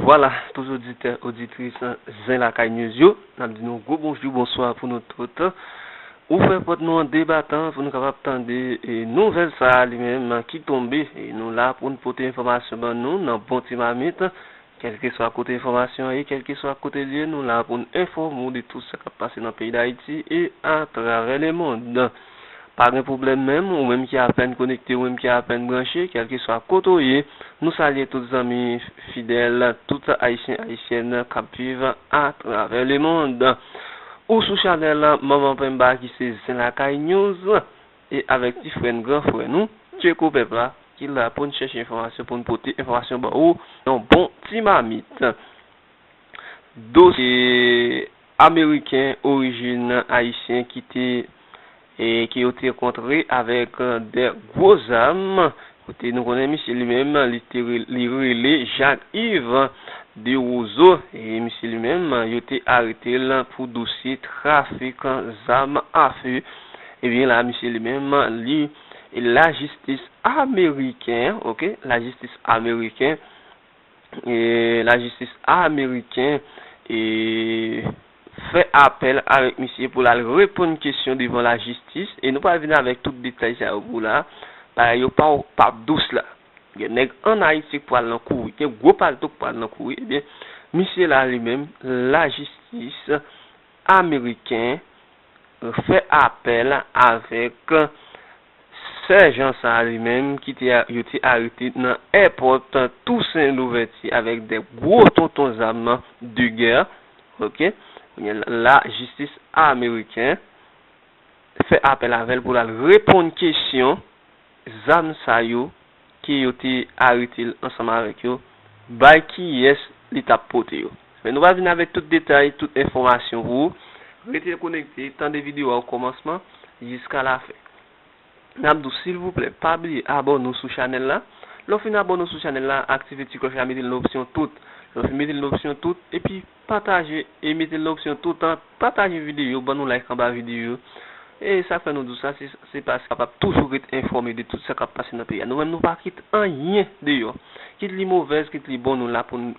Vwala tout oditè, oditris Zen Lakay News yo, n ap di nou gwo bonjou, bonswa pou nou tout. Ouvè pòt nou an de batan pou nou kapab tande nouvèl sa a li menm ki tonbe. Nou la pou n pote enfòmasyon ban nou nan bon ti mamit. Kèlkeswa kote enfòmasyon an ye, kèlkeswa kote l ye, nou la pou n enfòme w de tout sa k ap pase nan peyi Dayiti e atravè lemond. Pa gen pwoblèm menm, ou menm ki apèn konekte ou menm ki apèn branche, kèlkeswa kote w ye, nou salye tout zanmi fidèl, tout Ayisyen Ayisyèn k ap viv atravè lemond. Ou sou chanèl Manman Penmba ki se Zen Lakay News e avèk ti frè n, gran frè nou, Tcheko Pèp la ki la pou n chèche enfòmasyon, pou n pote enfòmasyon ba ou nan yon bon ti mamit. Dosye. Ameriken orijin Ayisyen ki te ki yo te kontre avèk 2 gwo zam, kote nou konnen misye li menm li te li rele Jacques Yves Derozo e misye li menm yo te arete l pou dosye trafik zam afe ebyen la misye li menm li lajistis ameriken ok lajistis ameriken lajistis ameriken fè apèl avèk misye pou l al reponn kesyon devan lajistis e nou pral vin avèk tout detay sa yo pou w la bagay yo pa p dous la gen nèg an ayiti k pral nan kou wi gen gwo palto k pral nan kou wi ebyen misye la li menm lajistis ameriken fè apèl avèk Sèjan sa a li menm ki te yo te arete nan èpòt Tousen Louvèti avèk 2 gwo tonton zam de gè ok kounye a la jistis ameriken fè apèl avè l pou l al reponn kesyon zam sa yo ke yo te arete l ansanm avèk yo, bay kiyès li tap pote yo. Men nou pral vin avèk tout detay, tout enfòmasyon pou ou. Rete konekte, tande video a okòmansman jiska lafen. Nap di w silvouplè pa bliye abòne w sou chanèl la, lè w fin abòne w sou chanèl la aktive ti klòch la mete l nan opsyon tout, lè w fin mete l nan opsyon tout epi. Pataje e mete nan opsyon toutan pataje videyo ban nou like anba videyo e sak fè nou di w sa se paske nou kapab toujou ret enfòme de tout sa kap pase nan peyi a nou menm nou pa kite anyen deyò kit li movèz kit li bon nou la pou n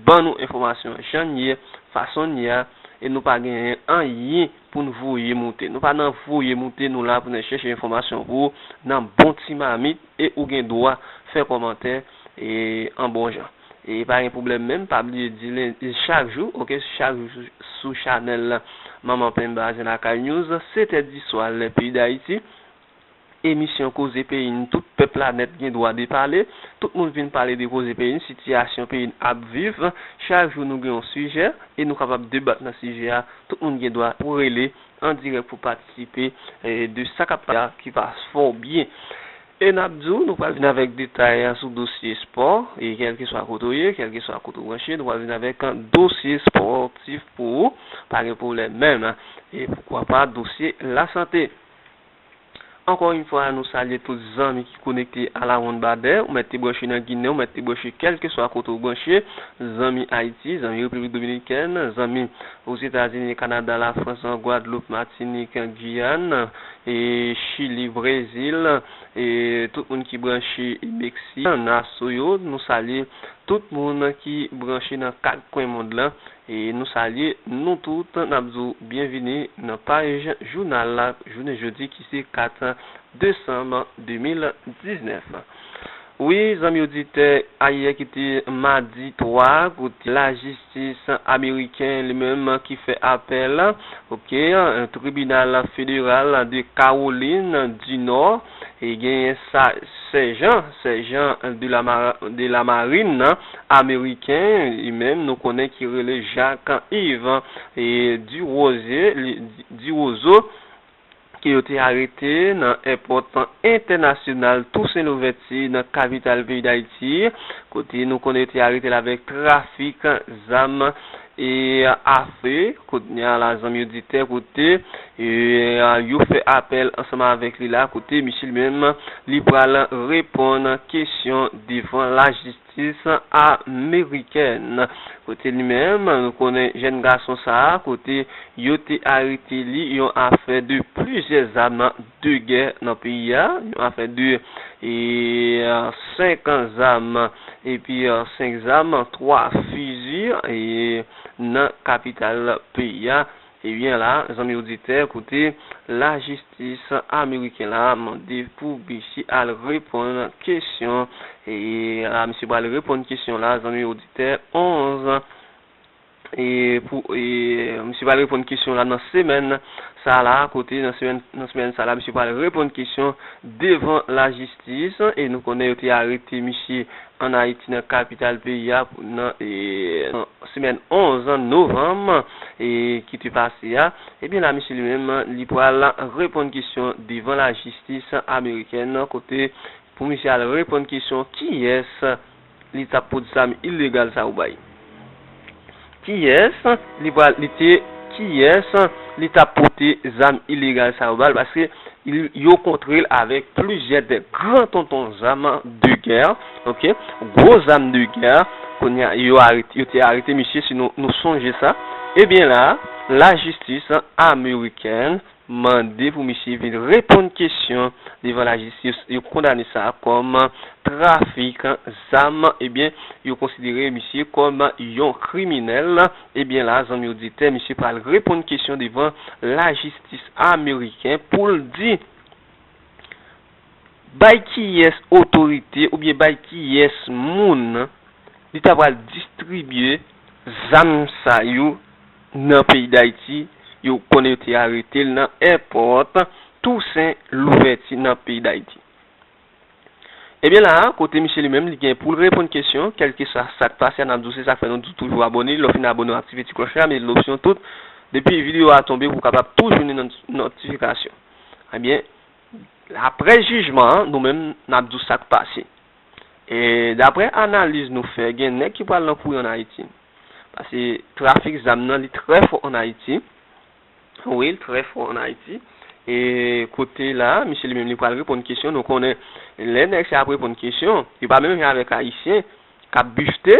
ban nou enfòmasyon jan n ye fason n ye a e nou pa gen anyen pou n voye moute nou pa nan voye moute nou la pou n chèche enfòmasyon pou w nan bon ti mamit e ou gen dwa fè kòmantè e an bon jan. E pa gen pwoblèm menm pa bliye di len chak jou ok chak jou sou sou chanèl la manman pen bazen lakay news 7 è di swa lè peyi dayiti emisyon koze peyi n tout pèp la nèt gen dwa de pale tout moun vin pale de koze peyi n sitiyasyon peyi n ap viv chak jou nou gen yon sijè e nou kapab debat nan sijè a tout moun gen dwa pou rele an dirèk pou patisipe de sa kap pase a ki pa fò byen. E n ap di w, nou pral vin avèk detay sou dosye espò, e kèlkeswa kote w ye, kèlkeswa kote w branche, nou pral vin avèk dosye espòtif pou ou, pa gen pwoblèm menm, e poukwa pa dosye lasante. Ankò yon fwa, nou salye tout zanmi ki konekte alawonnbadè, ou mèt te branche nan Ginen, ou mèt te branche kèlkeswa kote w branche, zanmi Ayiti, zanmi Repiblik Dominikèn, zanmi Ozetazini, Kanada, Lafrans, Gwadloup, Matinik, Giyàn, e chili brezil e tout moun ki branche meksi naso yo nou salye tout moun ki branche nan 4 kwen mond lan e nou salye nou tout nap di w byen vini nan paj jounal la jounen jodi ki se 4 desanm 2019. Wi zanmi oditè ayè ki te madi 3 out lajistis ameriken li menm ki fè apèl ok tribinal federal de kawolin di nò e genyen sa sèjan sèjan de la marin nan ameriken li menm nou konnen ki rele jak iv e di woze di wozo. ke yo te arete nan èpòt entènasyonal Tousen Louvèti nan kapital peyi Dayiti, kote nou konnen yo te arete l avèk trafik zam e afe. Kounye a la zanmi oditè kote yo fè apèl ansanm avèk li la, kote misye li menm li pral reponn kesyon devan lajistis. Jistis amerikèn. Kote li menm? Nou konnen jèn gason sa a kote yo te arete li yon afè de plizyè zam de gè nan peyi a, yon afè de 5 zam epi 5 zam, 3 fizi nan kapital peyi a. Ebyen la, zanmi oditè, koute, lajistis ameriken la mande pou Bichi al reponn kesyon, e la misye pral reponn kesyon la, zanmi oditè, 11 e pou e misye pral reponn kesyon la nan semèn sa la, kote nan semèn sa la misye pral reponn kesyon devan lajistis. Ti jis lan e nou konnen yo te arete misye an Ayiti nan kapital peyi a nan semèn 11 novanm ki te pase a, ebyen la misye li menm li pral reponn kesyon devan lajistis amerikèn kote pou misye al reponn kesyon kiyès Li tap pot zam ilegal sa ou bay. Kiyès li pral li te kiyès li tap pote zam ilegal sa yo bal paske yo kontrel avèk plizyè de gran tonton zam de gè ok gwo zam de gè kounya yo arete yo te arete misye si nou sonje sa ebyen la lajistis amerikèn M mande pou misye vin reponn kesyon devan lajistis yo kondane sa kòm trafik zam ebyen yo konsidere misye kòm yon kriminèl ebyen la zanmi oditè misye pral reponn kesyon devan lajistis ameriken poul di Bay kiyès otorite oubyen bay kiyès moun li ta pral distribye zam sa yo nan peyi Dayiti, yo konnen yo te arete l nan èpòt Tousen Louvèti nan peyi Dayiti. Ebyen la a kote misye li menm li gen pou l reponn kesyon, kèlkeswa sa k pase a n ap di w se sa k fè nou di w toujou abòne, lè w fin abòne w aktive ti klòch la, mete l opsyon tout, depi videyo a tonbe pou w kapab tou jwenn yon nòtifikasyon. Ebyen Apre jijman an, nou menm n ap di w sa k pase. E daprè analiz nou fè, gen nèg ki pral nan kouri ann Ayiti. Pase trafik zam nan li trè fò ann Ayiti. Wi, l trè fò ann Ayiti. E kote la a, misye li menm li pral reponn kesyon. Nou konnen lè nèg sa yo ap reponn kesyon, yo pa menm jan avèk Ayisyen k ap bifte.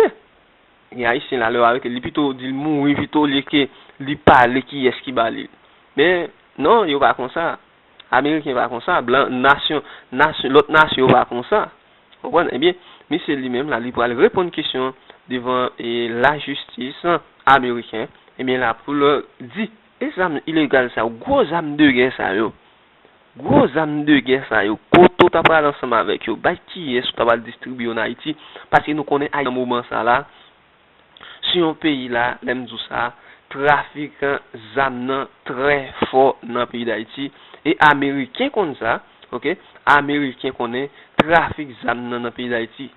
Gen Ayisyen la, lè yo arete l, li pito di l mouri pito olye ke li pale kiyès ki ba li l. Men, non, yo pa konsa. Ameriken pa konsa, blan, nasyon, nasyon, lòt nasyon yo pa konsa. Ou konprann? Ebyen, misye li menm la, li pral reponn kesyon an devan lajistis ameriken. Ebyen la pou l di, e zam ilegal sa yo, gwo zam de gè sa yo, gwo zam de gè sa yo, kote ou ta pral ansanm avèk yo? Bay kiyès ou ta pral distribye yo an Ayiti? Paske nou konnen Ayiti nan moman sa la, sou yon peyi la, lè m di w sa, trafikan zam nan trè fò nan peyi Dayiti e ameriken konn sa, ok, ameriken konnen trafik zam nan nan peyi Dayiti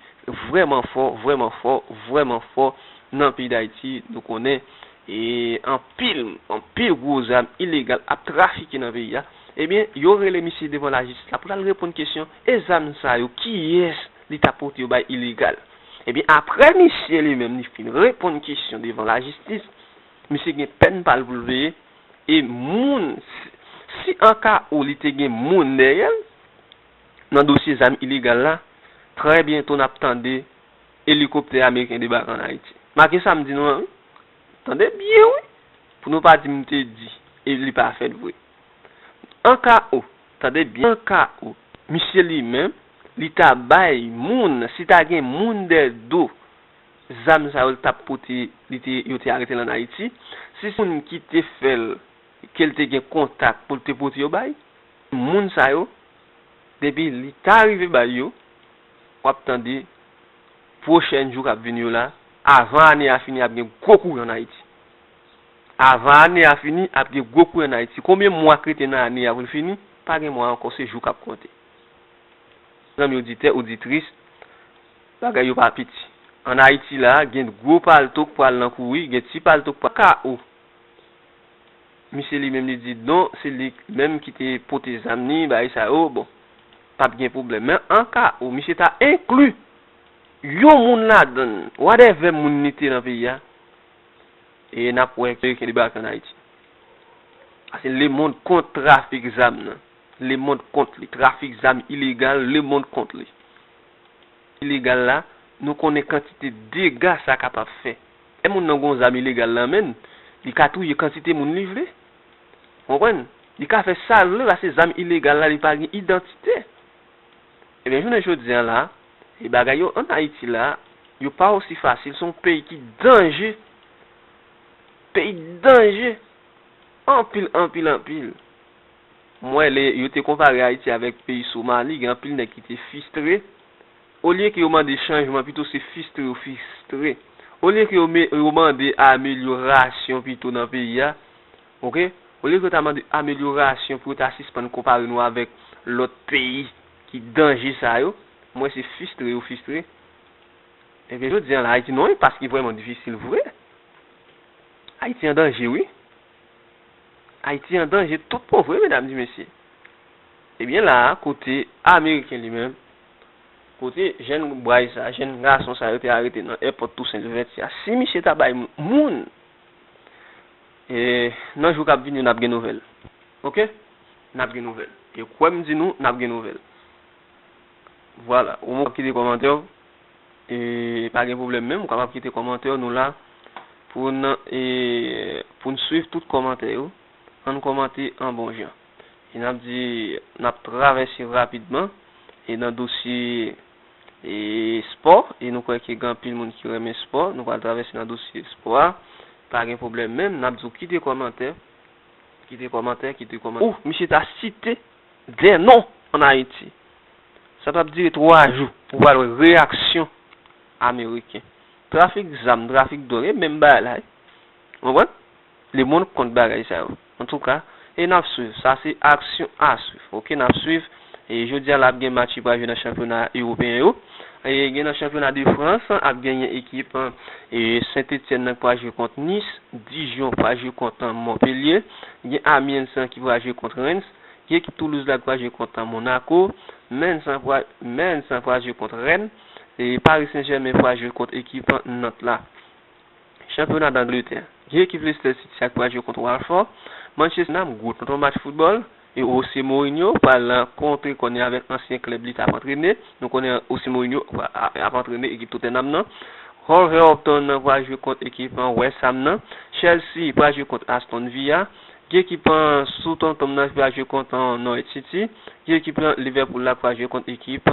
vrèman fò, vrèman fò, vrèman fò nan peyi Dayiti, nou konnen e anpil, anpil gwo zam ilegal ap trafike nan peyi a, ebyen yo rele misye devan lajistis la pou l al reponn kesyon, e zam sa yo kiyès li ta pote yo bay ilegal? Ebyen aprè misye li menm li fin reponn kesyon devan lajistis, misye gen pèn pa l pou l peye e moun si an ka ou li te gen moun dèyè l nan dosye zam ilegal la, trè byento n ap tande elikoptè ameriken debake an Ayiti. Make sa m di nou an wi. Tande byen wi pou nou pa di m te di e li pa fèt vre. An ka ou. Tande byen ka ou. Misye li menm, li ta bay moun, si ta gen moun dè do zam sa yo li tap pote, li te, yo te arete l an Ayiti, si se moun ki te fè l, ke l te gen kontak pou l te pote yo bay, moun sa yo, depi li ta rive bay yo, w ap tande pwochèn jou k ap vini yo la, avan ane a fini ap gen gwo kouran an Ayiti. Avan ane a fini, ap gen gwo kouran nan Ayiti. Konbyen mwa k rete nan ane a pou l fini? Pa gen mwa ankò, se jou k ap konte. Zanmi oditè, oditris, bagay yo pa piti. An Ayiti la a, gen gwo palto k pral nan kouri, gen ti palto k pral nan kawo. Misye li menm li di non, se li menm ki te pote zam ni bagay sa yo, bon, p ap gen pwoblèm. Men an ka ou misye ta enkli yon moun ladan l, wadèvè moun li te nan peyi a, e nap wè ke li debake an Ayiti. Ase lemond kont trafik zam nan. Lemond kont li. Trafik zam ilegal, lemond kont li. Ilegal la, nou konnen kantite dega sa kapab fè. Lè moun nan gon zam ilegal nan men, li ka touye kantite moun li vle. Ou konprann? Li ka fè sa l vle paske zam ilegal la li pa gen idantite. Ebyen jounen jodi a la. E bagay yo an Ayiti la, yo pa osi fasil, se yon peyi ki danje, peyi danje, anpil, anpil, anpil. M wè lè yo te konpare Ayiti avèk peyi Somali, gen anpil nèg ki te fistre, olye ke yo mande chanjman pito se fistre yo fistre, olye ke yo mande amelyorasyon pito nan peyi a, ok, olye ke yo ta mande amelyorasyon pou yo ta sispann konpare nou avèk lòt peyi. Ki danje sa yo? M wè se fistre yo fistre. Ebyen jodi an la Ayiti nan yon enpas ki vrèman difisil vre. Ayiti an danje wi. Ayiti an danje tout bon vre medam di mesye. Ebyen la a kote ameriken li menm, kote jenn bway sa, jenn gason sa yo te arete nan èpòt Tousen Louvèti a, si misye ta bay moun, e nan jou k ap vini yo n ap gen nouvèl. Ok nap gen nouvel. E kwem di nou nap gen nouvel. Vwala ou menm wap kite komantè w e pa gen pwoblem menm ou kapab kite komantè w nou la poun e poun swiv tout komantè yo ann komante an bon jan e nap di nap travèse rapidman e nan dosye e spò e nou kwè ke gen anpil moun ki renmen spò nou pral travèse nan dosye spò a pa gen pwoblem menm nap di w kite komantè Kite kòmantè, kite kòmantè. Ohh misye ta site 2 non an Ayiti. Sa pap dire 3 jou. Ou pral wè reyaksyon ameriken. Trafik zam, trafik dwòg e menm balay. Ou konprann? Lemond kont bagay sa yo. Antouka, e nap swiv. Sa se aksyon a swiv. Ok nap swiv. E jodi a la ap gen match ki pral jwe nan chanpyona ewopeyen yo. E gen nan chanpyona de Frans ap genyen ekip e Sentetyèn nan ki pral jwe kont Nis, Dijon pral jwe kont Monpelye, gen Amiens ki pral jwe kont Rens, gen ekip Toulouse la ki pral jwe kont Monako, Mens pral Mens pral jwe kont Rèn e Pari Sen Jèmen pral jwe kont ekip Nant la. Chanpyona d'Angletè, Dye ekip Leicester City ak pral jwe kont Watford, Manchester City nan gwo tonton match foutbòl, e Jose Mourinho pral nan kontre kòne avèk ansyen klèb li tap antrene, nou konnen Jose Mourinho ap antrene ekip Tottenham nan, Wolverhampton nan pral jwe kont ekip West Ham nan, Chelsea pral jwe kont Aston Villa, Dye ekip Southampton nan pral jwe kont Norwich City, Dye ekip Liverpool la pral jwe kont ekip.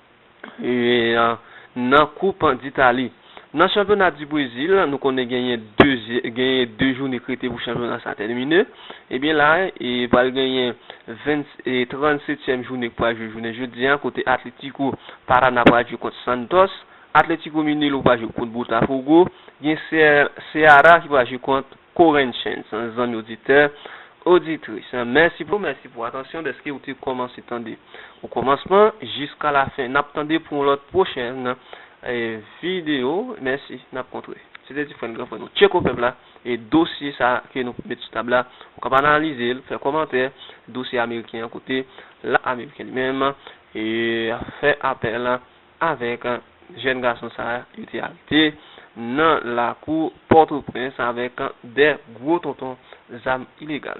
nan koup ditali. Nan chanpyona di brezil nou konnen genyen 2 genyen 2 joune k rete pou chanpyona sa tèmine ebyen la pral genyen 20 37 tyèm joune k pral jwe jounen jodi an kote atletiko parana pral jwe kont santòs atletiko minelo pral jwe kont botafogo gen seara ki pral jwe kont Corinthians zanmi oditè, oditris mèsi pou mèsi pou atansyon dèske ou te kòmanse tande o kòmansman jiska la fen nap tande pou yon lòt pwochèn video mèsi nap kontre se te ti frè n gran frè nou tcheko pèp la e dosye sa ke nou met sou tab la ou kap analize l fè kòmantè dosye ameriken an kote la ameriken li menm e fè apèl. avèk jèn gason sa yo te arete nan lakou Pòtoprens avèk 2 gwo tonton zam ilegal.